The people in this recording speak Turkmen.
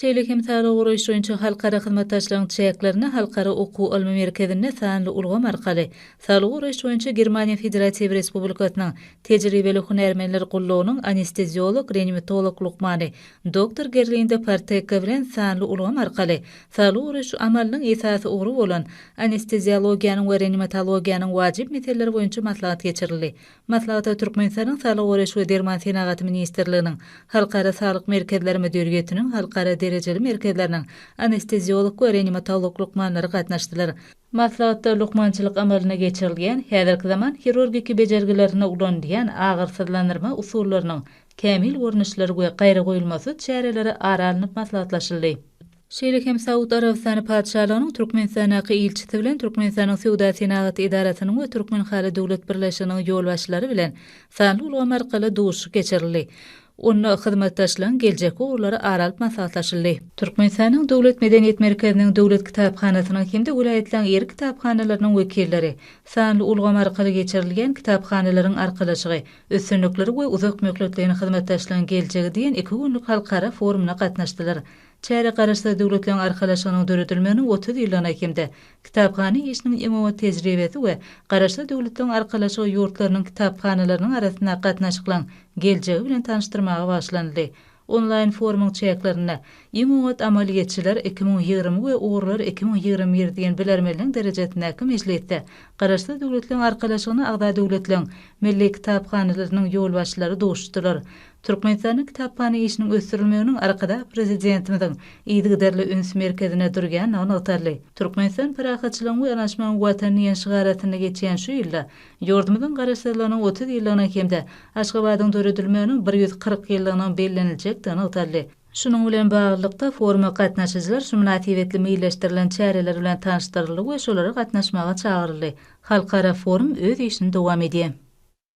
şeýle hem saglygy goraýyş boýunça halkara hyzmatdaşlygyň çäklerinde Halkara okuw-ylmy merkezinde sanly ulgam arkaly Saglygy goraýyş boýunça Germaniýa Federatiw Respublikasynyň Tejribeli hünärmenler gullugynyň anesteziolog-reanimatolog lukmany doktor Gerlinda Partekka bilen sanly ulgam arkaly Saglygy goraýyş amalynyň esasy ugry bolan anesteziologiýanyň we reanimatologiýanyň wajyp meseleleri boýunça maslahat geçirildi. Maslahata Türkmenistanyň Saglygy goraýyş we derman senagaty ministrliginiň, Halkara saglyk merkezleri müdiriýetiniň halkara derejeli merkezleriniň anesteziolog we reanimatolog lukmanlary gatnaşdylar. Maslahatda lukmançylyk amalyna geçirilýän, häzirki zaman hirurgiki bejergilerinde ulanylýan agyrsyzlandyrma usullarynyň kämil görnüşleri we gaýragoýulmasyz çäreleri ara alnyp maslahatlaşyldy. şeýle hem Saud Arabystany Patyşalygynyň Türkmenistandaky ilçisi bilen Türkmenistanyň Söwda-senagat edarasynyň we Türkmenhaly döwlet birleşiginiň ýolbaşçylary bilen sanly ulgam arkaly duşuşyk geçirildi. Onda hyzmatdaşlygyň geljekki ugurlary ara alyp maslahatlaşyldy. Türkmenistanyň Döwlet medeniýet merkeziniň Döwlet kitaphanasynyň hem-de welaýatlaryň ýerli kitaphanalarynyň wekilleri sanly ulgam arkaly geçirilýän Kitaphanalaryň arkalaşygy, üstünlikleri we uzak möhletleýin hyzmatdaşlygyň geljegi diýen iki günlük halkara forumyna gatnaşdylar. Çärä Garaşsyz Döwletleriň Arkalaşygynyň döredilmeginiň otuz ýyllygyna hem-de Kitaphana işiniň iň oňat tejribesi we Garaşsyz Döwletleriň Arkalaşygy ýurtlarynyň kitaphanalarynyň arasyndaky gatnaşyklaryň geljegi bilen tanyşdyrmaga bagyşlanyldy. Onlaýn forumyň çäklerinde Iň oňat amalyýetçiler iki müň ýigrimi we Ugurlar iki müň ýigrimi bir diýen bilermenligiň derejesindäki mejlisde Garaşsyz Döwletleriň Arkalaşygyna agza döwletleriň Milli kitaphanalarynyň ýolbaşçylary duşuşdylar. Türkmenistanda kitaphana işiniň ösdürilmeginiň Arkadag Prezidentimiziň yzygiderli üns merkezinde durýandygy nygtaldy. Türkmenistan parahatçylygyň we yanaşmagyň Watany diýen şygar astynda geçýän şu ýylda ýurdumyzyň Garaşsyzlygynyň otuz ýyllygynyň hem-de Aşgabadyň döredilmeginiň bir ýüz kyrk ýyllygynyň belleniljekdigi nygtaldy. Şunuň bilen baglylykda, foruma gatnaşyjylar şu mynasybetli meýilleşdirilen çäreler bilen tanyşdyryldy we şolara gatnaşmaga çagyryldy. Halkara forum öz işini dowam edýär.